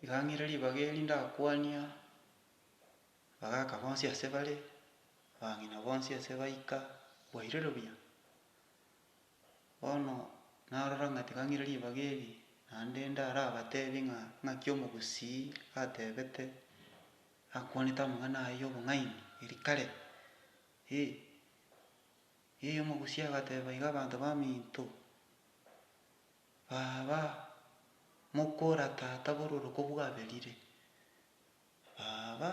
Tiga ng'ire ribaga eri ndakwania abagaka bonsi ase bare, abang'ina bonsi ase baika bwairire buya. Bono narora ng'a tiga ng'ire ribaga eri, naende ndarabatebi ng'a ng'aki omogusii atebete, akwanete amang'ana aye y'obong'aini eri kare, eh, eh, omogusii agateba iga abanto baminto. Baba, mokora Tata bororoko bwaberire. Baba,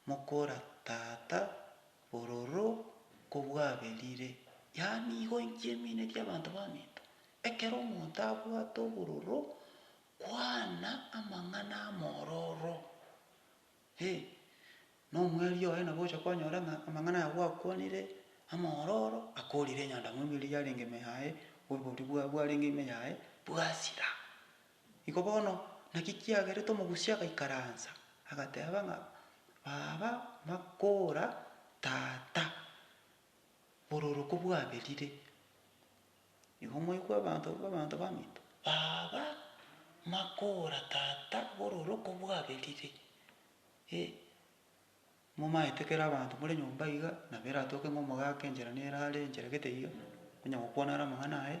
mokora Tata bororo ko bwaberire. Yaani igo inki emine y'abanto baminto, ekero omonto abwate obororo, kwana amang'ana amororo. Ee, nomwerio oye nabo ogocha kwanyora ng'a amang'ana aya gwakwanire, amaororo akoorire enyandamwamu eria yarenge ime yaye, oboruoti bwaye bwarenge ime yaye bwasira. Igo bono, naki kiagerete omogusia agaikaransa, agateba ng'a, Baba, makoora, Tata, bororo kobwaberire. Nigo moigwe abanto barwe abanto baminto, baba makoora tata bw'ororo okobwaberire, ee, momaete kera abanto more nyomba iga, nabo eratoke ng'a omogaka enchera nere are enchera gete iga, onye gokwana are amang'ana aye,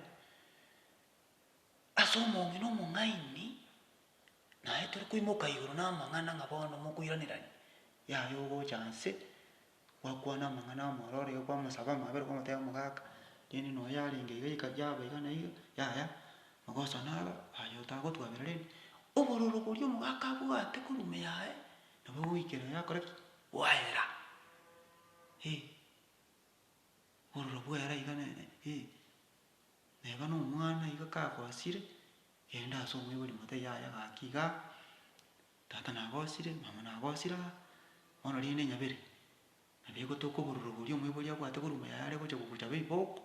ase omong'ina omong'aini, naye tore koimoka igoro namang'ana ng'a bono mokoiranerania, yaya ogocha inse. gwakwana amang'ana amare ore iga kwamosaba amabe ore kwamoteba omogaka rende noyo yarenge iga yika yaba iga na iga yaya magoso naro aye otagotwabera rende obororo boria omogaka abwate korwa ime yaye nabo ogoikera yakora ki? Gwaera eh obororo bwaera iga ne eh. Neba na omwana iga kagosire genda ase omoibori mote yaya gaki igaa. Tata nabosire, mama nabosire aa, bono rende nyabere, na begotoka obororo boria omoibori abwate korwa ime yaye are gocha kogochaba ebibooko,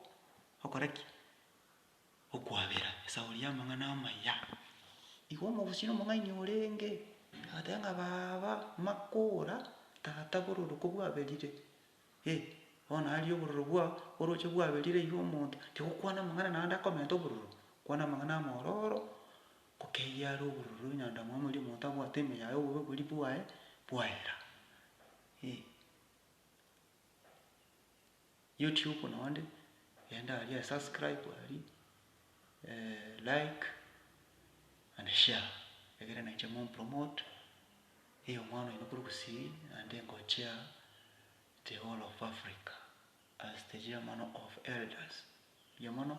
okora ki? Okwabera esauri y'amang'ana amaya. Igo omogusii na omong'aini orenge, agateba ng'a baba, makora, tata bororo kobwaberire, eh, bono aria obororo bwao oroche bwaberire iga omonto, tigokwana amang'ana naende akomenta obororo, kwana amang'ana amaororo. Gokeirie are obororo nyandamo amo erio omonto abwate ime yaye obobe boria bwaye bwaera. Ee. YouTube na onde, genda aria e subscribe aria, like and share egere nainche mo promote, ee omwana oino kore Gusii naende ngochia the whole of Africa as the chairman of elders. Mbuya mono.